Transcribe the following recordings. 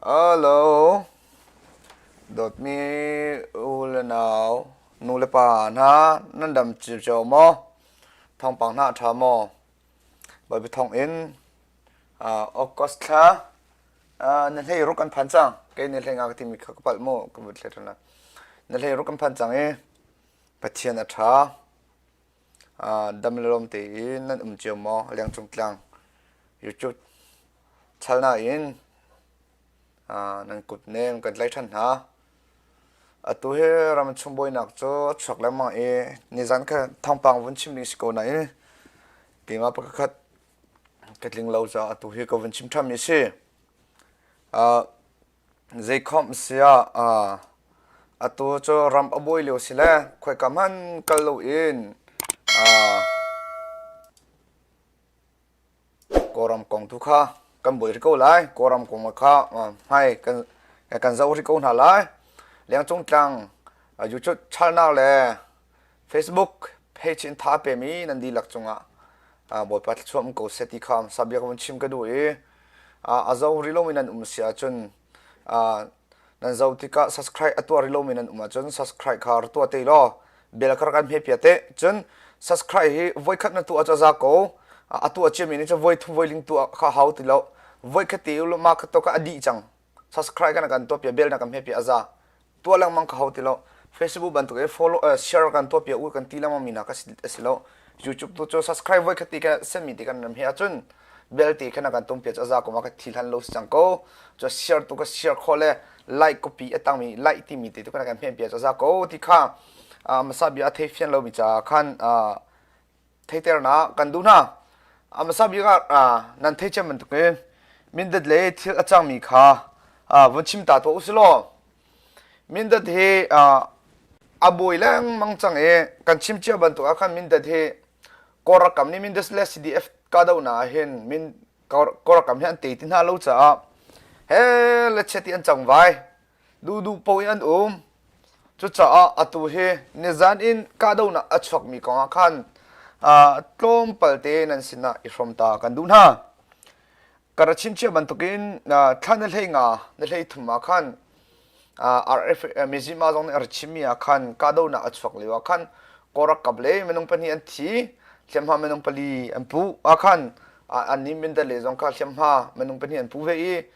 Hello. Dawtmi u le nau, nu le pa hna, nan dam cil cio maw? Thawngpang hna ṭha maw? Bawi thawng in August thla na hlei ruk kan phan cang. Kei na hlei nga ka timi kha ka palh mu, ka vut hlei ṭhan Na hlei ruk kan phan cang i Pathian a ṭha. Dam le lawm tein nan um cio maw Lengcung Tlang YouTube chanal in nan kut nem kan tlaih ṭhan hna. Atu hi ramchung buainak cu a chuak lengmang i nizan kha thawngpang vun chim ding si ko nain keimah pakhat ka tling lo caah atu hi ka vun chim ṭhan mi si. Zeikhomh sia atu cu ram a buai lio sile khoika hmanh kal loin Kawlram kong tu kha kan buai rih ko lai. Kawlram kong kha hmai kan zoh rih ko hna lai. Lengcung tlang yucut chalnak le Facebook page in tha pemi nan dihlak cungah Bawipa thluachuah um ko seh ti kha sabia kan chim ka duh i a zo rilomi nan um si ahcun nan zo tikah subscribe a tuar rilomi nan um ahcun subscribe kha tua te law bel kar kan hme pia te cun subscribe hi voi khat na tu a za ko a tua ciami ni cu voi thu voi ling tu kha hau ti lo voi khat ti ma kha to ka adi cang subscribe kan kan tuah pia bell na kan hme pia aza tua lengmang ka hau ti lo facebook bantuk e follow uh, share kan tuah pia u kan ti lengmang mi na ka si lo youtube tu chu subscribe voi khati ka semi ti kan nam he achun bell ti khana kan tum pia aza kuma ka thi hlan lo si chang ko cho share tu ka share kho le like copy atang mi like ti mi te tu kana kan hme pia aza ko ti kha masa bia a thei fian lo mi cha khan theiternak kan duh hna a hmasa bik ah nan thei cem bantuk in mindat le thil a cangmi kha vun chim ta tuah usih law mindat hi a buai lengmang cang i kan chim cia bantuk ah khan mindat hi kawlrak kam nih mindat le cdf kahdohnak ah hin min kawlrak kam hi an tei ti hna lo caah he le chiati an cang vai duhduh po in an um cucaah atu hi nizan in kahdohnak a chuakmi kongah khan tlawmpal te nan sinah i hrom ta kan duh hna ka ra chimchia bantukin thla na hlei nga na hlei thum ah khan RF Mizima zong nih a ra chimmi ah khan kahdohnak a chuak lio ah khan korak kap le minung pahnih an thi hliamhma minung pali an pu a khan an nin mindal le zong kha hliamhma minung pahnih an pu ve i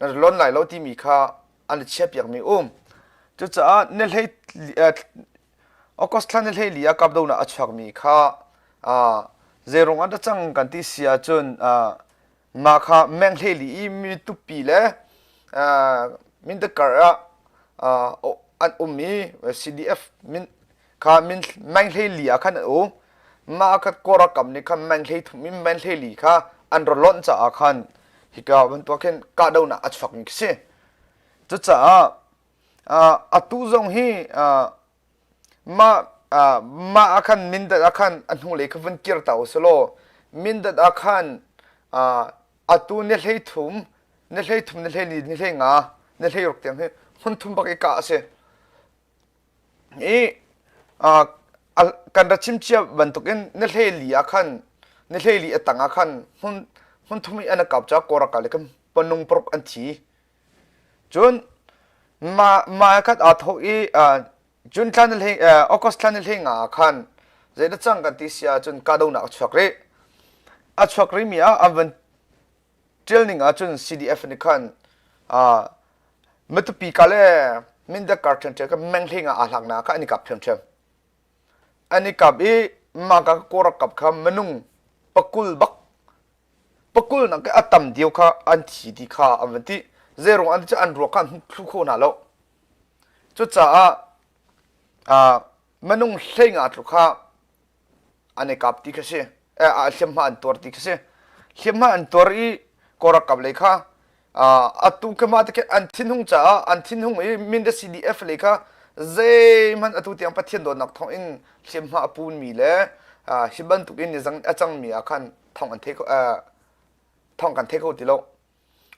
na lonh lai lo timi kha an i chiahpiakmi um cucaah na hlei August thla na hlei li ah kapdonak a chuakmi kha zeirung ah dah cang kan ti si ahcun mah kha meng hlei li i mi tupi le mindat kar ah an um i CDF min kha min man hlei li ah khan an u ma ka kora kam ni khan man hlei thum in man hlei li kha an ro lon ca ah khan hika bantuk khin ka do na achfak mi si cucaah atu zong hi ma ma akhan mindat akhan ahnu le khavun kir ta usalo mindat akhan atu ne hlei thum ne hlei thum ne hlei li ne hlei nga ne hlei ruk tiang hi hun thum bak i ka ase i kan ra chimcia bantukin na hleli ah khan na hleli a tang ah khan hmun hmun thum i an rak kau caah kawrakah le kan panung paruk an thi cun ma ma khat aa thawh i june thla na hlei august thla na hlei nga ah khan zei na cang kan ti si ahcun kahdohnak a chuak rih a chuak rihmi ah an van ṭial ning ahcun CDF nih khan matupi ka le mindat kar ṭhiamṭhiam kan menghleng ah aa hlaknak kha an i kap ṭhiamṭhiam an i kap i mah ka kaw rak kap kha minung pakul bak pakul nak i a tam dio kha an thi ti kha an van ti zeirong an ti cu an ruak kha an thlu kho hna lo cucaah minung hleng ah tlu kha an i kap ti kha si eh, hliamhma an tuar ti kha si hliamhma an tuar i korakap lei kha atu kemah te an thinhung caah an thinhung i Mindat CDF lei kha zeihmanh atu tiang Pathian dawtnak thawng in hliamhma a punmi le hi bantukin nizang a cangmi ah khan thawng an thei thawng kan thei kho ti lo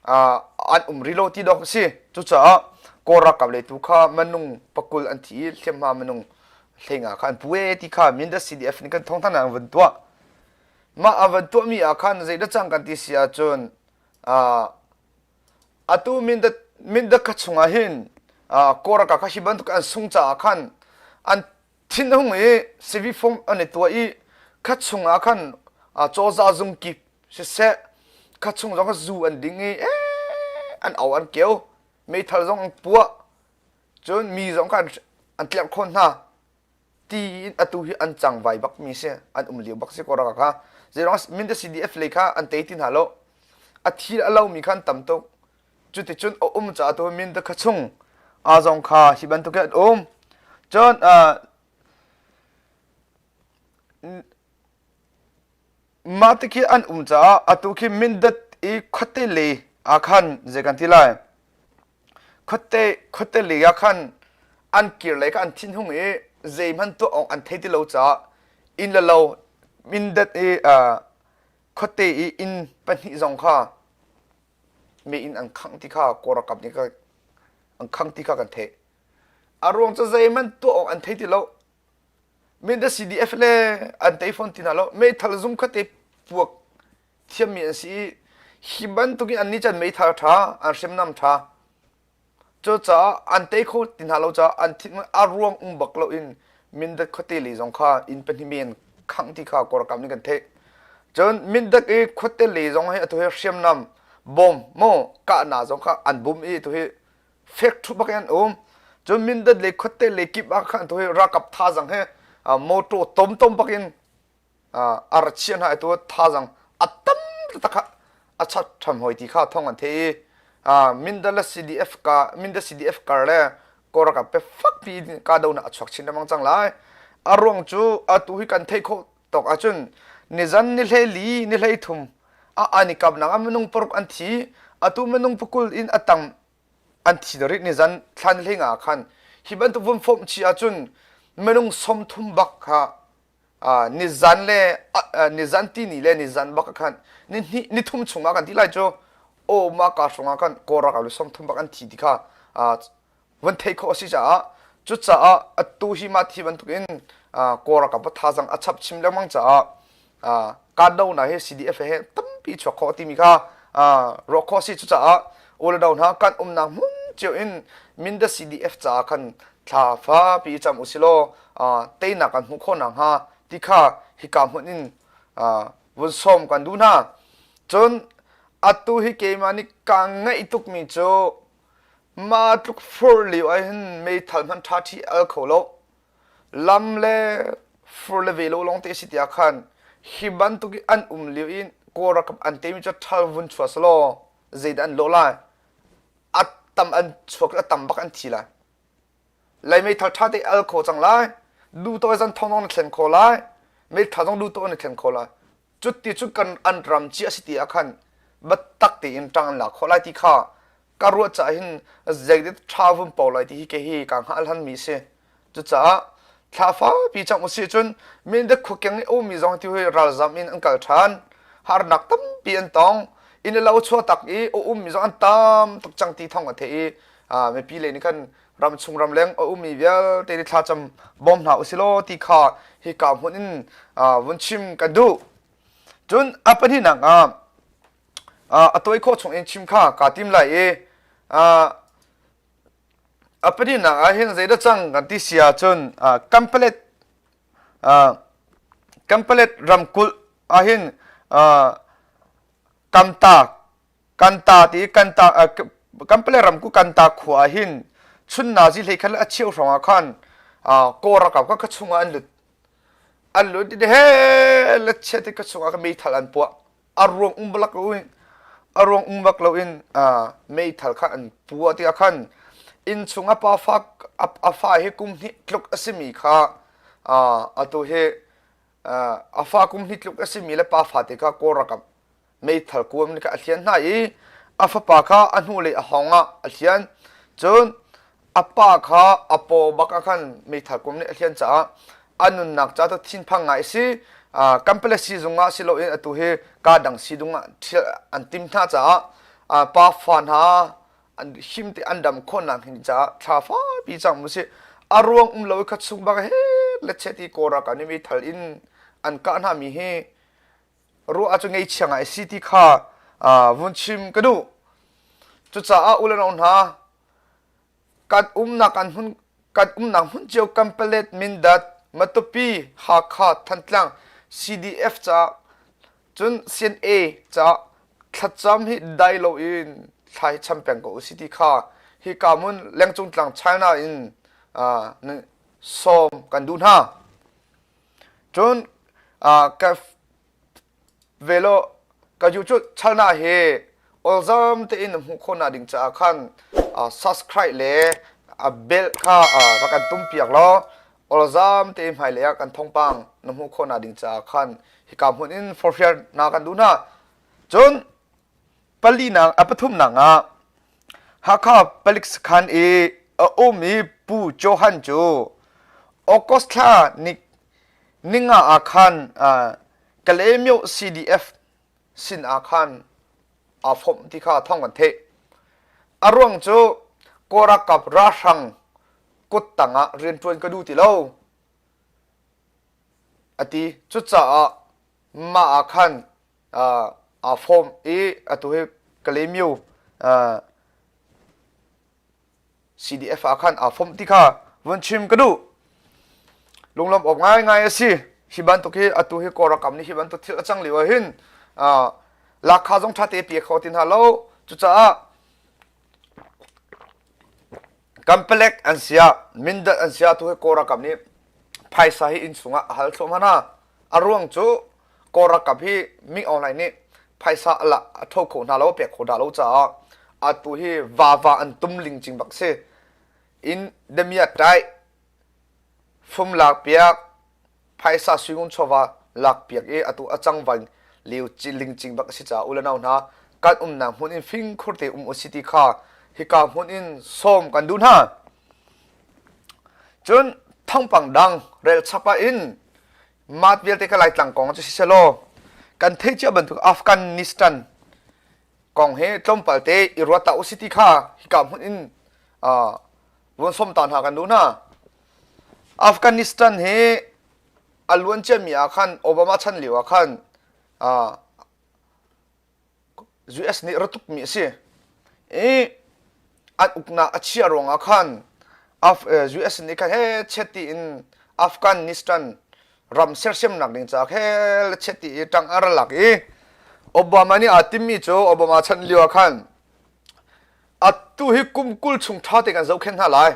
an um rih lo ti dawk a si cucaah kawl ralkap lei tu kha minung pakul an thi i hliamhma minung hlenga kha an pue ti kha Mindat CDF nih kan thawng an vun tuah mah an vun tuahmi ah khan zeidah cang kan ti si ahcun atu Mindat Mindat kha chungah hin kawl ralkap kha hi bantuk an sung caah khan an thinhung i sivi fung an i tuah i kha chungah khan cawza zung kik siseh kha chung zong kha zu an ding i an au an keu meithal zong an puah cun mi zong kha an tlerh khawt hna ti in atu hi an cang vai bak mi si an um lio bak si ko raka kha zeirong mindef cdf lei kha an tei ti hna lo a thil a lo mi khan tam tuk cuticun a um caah tu minda kha chung a zong kha hi bantukin an um cun mah ti khi an um caah atu khi mindat i khuate le ah khan zei kan ti lai khuate khuate le ah khan an kir le kha an thin hung i zeihman tuah awk an thei ti lo caah in le lo mindat i khuate i inn pahnih zong kha mein an khangh ti kha kawlralkap nih an khang ti kha kan theih a ruang cu zeihmanh tuah awk an thei ti lo min da CDF le an tei fawn ti na lo meithal zung khatte puak thiammi an si i hi bantukin an ni can meithal ṭha an hriamnam ṭha Cucaah an tei kho ti hna lo caah an thinhung a ruang um bak loin Mindat khuate le zong kha inn pahnih men khangh ti kha kawlkam nih kan theih. Cun Mindat i khuate le zong hi atu hi hriamnam bom maw kahnak zong kha an bum i atu hi fekṭhuh bak in an um. Cun Mindat le khuate le kip ah khan atu hi ralkap thazang he uh, motor tom tom bak in ar chiah hna tu thazang a tam taktak kha a chat ṭham hoi ti kha thawng an theih i Mindalas CDF ka Mindas CDF kar le Koraka pe fak pi kahdohnak a chuak chin lengmang cang lai a ruang cu atu hi kan theih khawh tawk ahcun nizan ni hleli ni hlei thum a an i kapnak ah minung paruk an thi atu minung pakul in a tam an thi darit nizan thlan hlei nga khan hi bantuk vun fawm chi ahcun minung som thum bak kha nizan le nizan tini le nizan bak khan ni thum chung ah kan ti lai cu oma ka hrung ah khan korak alu song thum bak an thi ti kha van thei kho asi caah cucaah atu hi ma thi bantuk in korak a patha zang a chap chim lengmang caah kandohna hi CDF he tampi chuak khawh timi kha ruah khawh si cucaah uldo hna kan umnak hmun cio in Mindat CDF caah khan thla fa pi cam usilaw teinak kan hmuh khawh na hnga ti kha hika hmun in vun sawm kan duh hna cun atu hi keimah nih ka ngeih tukmi cu ma tluk fur lio ah hin meithal hman ṭha ṭhi al kho lo lam le fur le ve lo lawng te a si tiah khan hi bantuk i an um lio in kawl ralkap an temi cu ṭhal vun chua selaw zeidah an lawh lai a tam an chuak a tam bak an thi lai lai mei thar ṭha te al kho cang lai duh tawi zan thong na thlen kho lai mei ṭha zong duh tawi na thlen kho lai cuti cu kan an ram ci a si ti ah khan biatak tein ṭang an la khawh lai ti kha ka ruah caah hin zeidet ṭha vun po lai ti hi ke hi ka hngah hlanmi si cucaah thla fapi cang usih cun mindat khuakeng i ummi zong ti hui ralzam in an kal ṭhan harnak tampi an tong inn le lo chuah tak i a ummi zong an tam tuk cang ti thong a theih i mipi lei nih khan ramchung ramleng a ummi vialte ni thlacam bawm hna usilaw ti kha hi ka hmun in vun chim kan duh cun a pahnihnak ah a toy kho chung in chim kha ka tim lai i a pahnihnak ah hin zeidah cang kan ti sia cun kampalet kampalet ramkulh ah hin kamta kan ta ti kan ta kanpale ram ku kan ta khua ah hin chunnazi hlei khan a cheu hrawng ah khan kaw rakap kha ka chung ah an lut an lut ti he la chiat ti ka chung ah ka meithal an puah a ruang um balak lo in a ruang um bak lo in meithal kha an puah ti ah khan inn chung a pa fa a fa hi kum hnih tluk a simi kha a tu hi a fa kum hnih tluk a simi le pa fate kha kawl rakam meithal kuam nika a hlian hna i a fapa kha a hnulei a hawng ah a hlian cun a pa kha a paw bak ah khan meithal kuam nih a hlian caah a nunnak ca cu thinphang ngai a si kan pale si zung ah si loin atu hi kaa dang si dung ah ṭhial an tim hna caah pa fa hna an him te an dam khon nak hin cha thla fa pi chang mu si a ruang um lo kha chung ba he le che ti kora ka ni mi thal in an ka na mi he ru a chu ngei chiang ai si ti kha vun chim ka du chu cha a ulano na kan um na kan hun kan um na hun cheu kampalet mindat matupi hakha thantlang cdf cha Cun Sin A cah thlatcam hi dai loin thla hi cham peng ko u si ti kha hi ka mun lengcung tlang China in na sawm kan duh hna. Cun ka velo ka ju cu chalna he awlzam tein na hmuh khawh na ding caah khan subscribe le a bell kha rak kan tum piak law awlzam te hmailei ah kan thongpang na hmuh khawh na ding caah khan hika hmun in forhrial na kan duh na cun pali na pathum na nga Hakha palik sakhan i a um i Pu Johan cu August thla ni ninga ah khan kale myo CDF sin ah khan aa fomh ti kha thawng kan theih. A ruang cu Kawrakap ralhrang kut tangah rianṭuan ka duh ti lo. A ti. Cucaah mah ah khan aa fom i atu hi Kalemyo CDF ah khan aa fomh ti kha vun chim ka duh lunglawm awk ngaingai a si hi bantuk hi atu hi kawlrakam nih hi bantuk thil a cang lio ah hin lakha zong ṭha te pe kho ti hna lo cucaah kampalek an sia mindat an sia tu hi kawlrakam nih phaisa hi inn chungah a hal thluahmah hna a ruang cu Kawl ralkap hi Ming Aung Hlaing nih phaisa alah a tho kho hna lo a pek kho hna lo caah atu hi vava an tum ling cing bak si in damiah tai fum lak piak phaisa suingun chawva lak piak i atu a cang van leu ci ling cing bak si caah ulanau hna kan umnak hmun in fing khurte um u si ti kha hika hmun in som kan du hna cun thangpang dang rel chapa in mat vialte ka laitlang kong cu sisehlaw kan theih cia bantuk Afghanistan kong hi tlawmpal te i ruat ta usi ti kha hika hmun in ruan som ta hna kan duh hna Afghanistan hi a luan ciami ah khan Obama chan lio ah khan US nih ratuk mi a si i an uknak a chia ruangah khan US nih khan he cheti in Afghanistan ram sersiamnak ding ca khe cheti i tang a ra lak i Obama nih aa timmi cu Obama chan lio ah khan atu hi kum kul chung tha te kan zohkhenh hna lai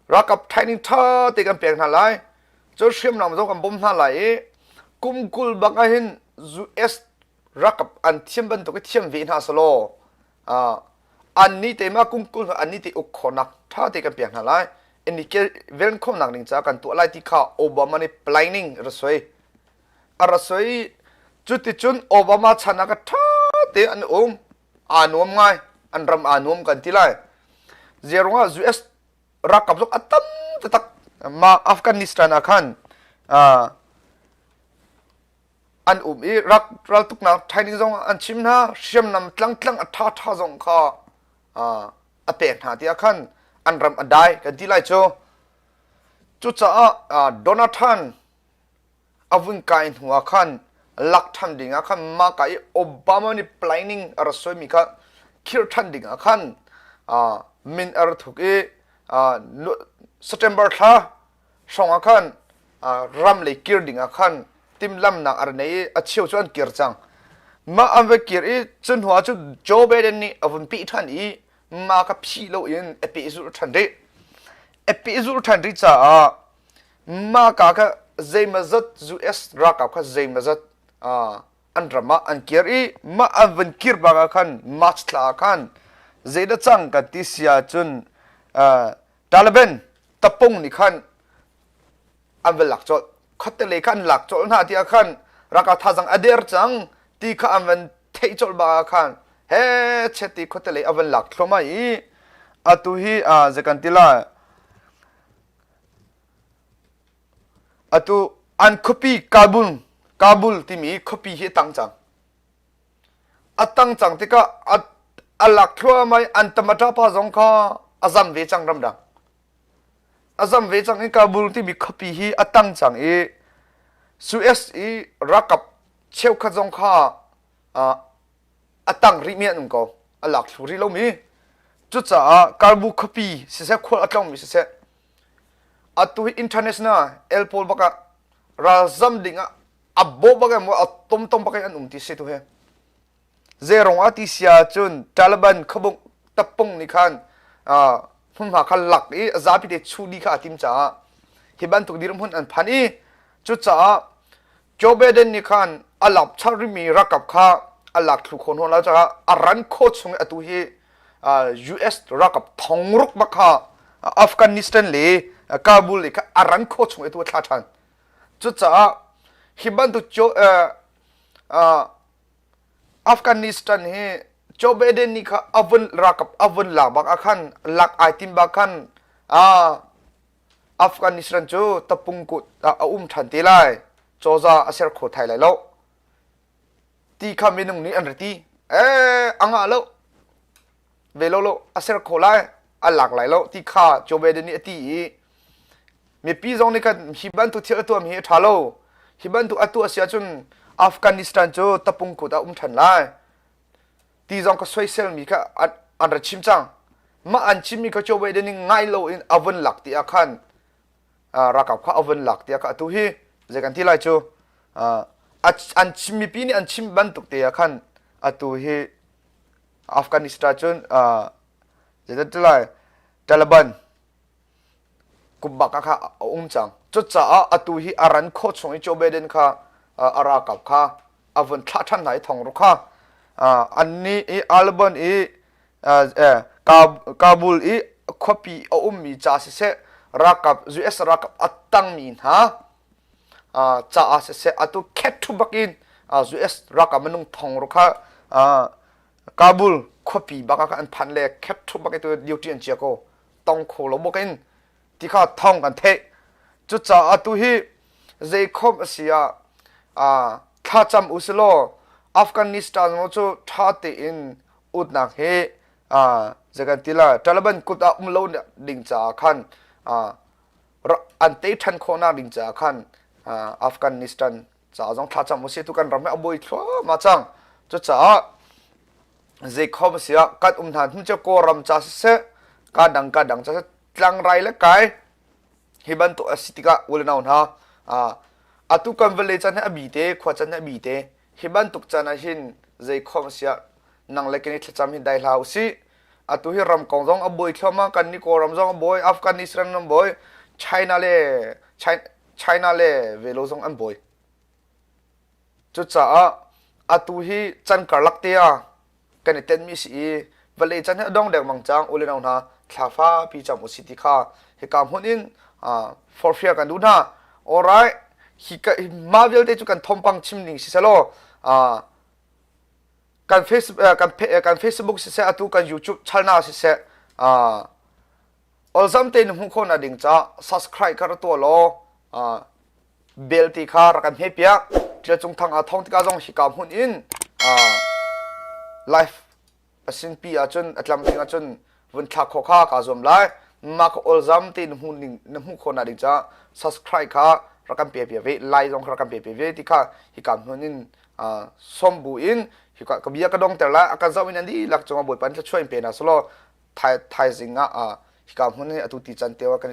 Rakap training ṭha te kan pek hna lai. Cun hriamnam zong kan bawm hna lai i kum kul bak ah hin US rakap an thiam bantuk i thiam ve hna selaw annih te mah kum kul annih te uk khawnak ṭha te kan pek hna lai. Inikel velnkhawmnak ning ca kan tuah lai ti kha Obama nih planning rasoi a rasoi cuticun Obama chan ah ka ṭha te an um aa nuam ngai an ram aa nuam kan ti lai je ruangah US ralkap zong a tam tatak ma Afghanistan ah khan an um i rak raltuknak training zong an chim hna hriamnam tlang tlang a tha tha zong kha a pek hna tiah khan an ram a dai kan ti lai cu cucaah Donald Trump a vun kai hnu ah khan lak ṭhan ding ah khan maka i Obama nih planning a rat suaimi kha khir ṭhan ding ah khan min a ra thuk i September thla hrawng ah khan ram lei kir ding ah khan timhlamhnak a ra nei i a cheu cu an kir cang mah an va kir i cu hnu ah cu Joe Biden nih a vun pih ṭhan i ma kha phi lo in a peh zul ṭhan rih a peh zul ṭhan rih caah maka kha zeimazat US ralkap kha zeimazat an ram ah an kir i mah an van kir bang ah khan March thla ah khan zeida cang ka ti sia cun Taliban tapung nih khan an va lak cawlh khottele khan lak cawlh hna ti ah khan raka thazang ader cang ti kha an van theih cawlh bang ah khan he cheti khottele avan lak thloma i atu hi zekan tila Atu an khuapi Kabul Kabul timi khuapi hi a tang cang. A tang cang tikah a, a lak thluahmah i an tam a ṭapa zong kha a zam ve cang ramdang. A zam ve cang i Kabul timi khuapi hi a tang cang i US i ralkap cheukhat zong kha uh, a tang rih mi an um ko a lak thlu rih lomi cucaah Karbu khuapi siseh khual a tlongmi siseh atu hi international el pawl bak ah ralzam ding ah a bawh bak em a tom tom bak an um ti se tu he zeirong a ti sia cun Taliban khabung tapung ni khan hmunhma kha lak i zapi te chu di kha a tim caah hi bantuk dirum hun an phan i cucaah Joe Biden nih khan a lam chang rimi ralkap kha a lak thlu kho nawn lo caah a ran kho chung i atu hi US ralkap thong ruk bak kha Afghanistan le Kabul i kha a ran kho chung i tu a thla ṭhan cucaah hi bantuk Afghanistan hi Joe Biden nih kha a vun ralkap a vun lak bak ah khan lak ai tim bak khan Afghanistan cu tapung kut ah a um ṭhan te lai cawza a ser kho thai lai lo ti kha minung nih an ra ti eh a ngah lo ve lo lo a ser kho lai a lak lai lo ti kha Joe Biden nih a ti i mipi zong nih kan hi bantuk thil a tuam hi a ṭha lo hi bantuk a tuah si ahcun Afghanistan cu tapung kut ah um ṭhan lai ti zong ka soiselmi kha an ra chim cang mah an chimmi kha chawve den in ngai lo in avon lak ti ah khan rakap kha avon lak ti ah kha atu hi zei kan ti lai cu an chimmi pi nih an chim bantuk te ah khan atu hi afghanistan cun zei ti lai taliban kum bak kha a um cang cucaah atu hi a ran khaw chung i Joe Biden kha a ra kau kha a vun thlah ṭhan hna i thong ru kha an ni i Alban i Kabul i khuapi a ummi ca siseh rakap US rakap a tangmi hna caah siseh atu khet thu bakin US rakap minung thong ru kha Kabul khuapi bak kha an phan le khep thu bak tu duty an chia ko tong kho lo mu kin ti kha thong kan theih cucaah tu hi zeikhom asi a a thlacam usilo afghanistan mo chu tha te in utnak he a jagan tila taliban kut a um lo ding cha khan a an te than khona ding cha khan afghanistan caah zong thla cam usih tu kan ram a buai thluahmah cang cucaah zeikhom si ah kan um hna hnu cu kawlram ca siseh kan dang kan dang ca siseh tlangrai le kai hi bantuk a si tikah ul nau hna atu kan vale can he a bi te khua can he a bi te hi bantuk can ah hin zeikhom si ah nang le keni thlacam hi dai hla usih atu hi ram kong zong a buai thluahmah kan ni kawlram zong a buai afghanistan ram buai china le China le velo zong an bawi. Cucaah atu hi can karlak te ah kan i tenmi si i vale can hi adong dek mang cang ule nau hna thlafa pi cham usi ti kha hi ka hmun in for free kan du hna alright hi ka ma vialte cu kan thompang chim ning si selo kan facebook kan facebook si se atu kan youtube channel si se olzam tein hmu kho na ding ca subscribe ka ra tua law bell ti kha rak kan hne piak tia cung thang a thong tika zong hi ka hun in live asin pi ahcun atlam tling ahcun vun thlak kho kha ka zuam lai ma ka olzam te na hmu ning na hmu kho na ding ca subscribe kha rakan pe pe ve lai zong kha rakan pe pe ve ti kha hi kam hun in som bu in hika ka bia ka dong ter la akan zoh in andi lak cung a bawipan thla chuain pe na solo thaizing ah hika hmun hi atu ti can te wa kan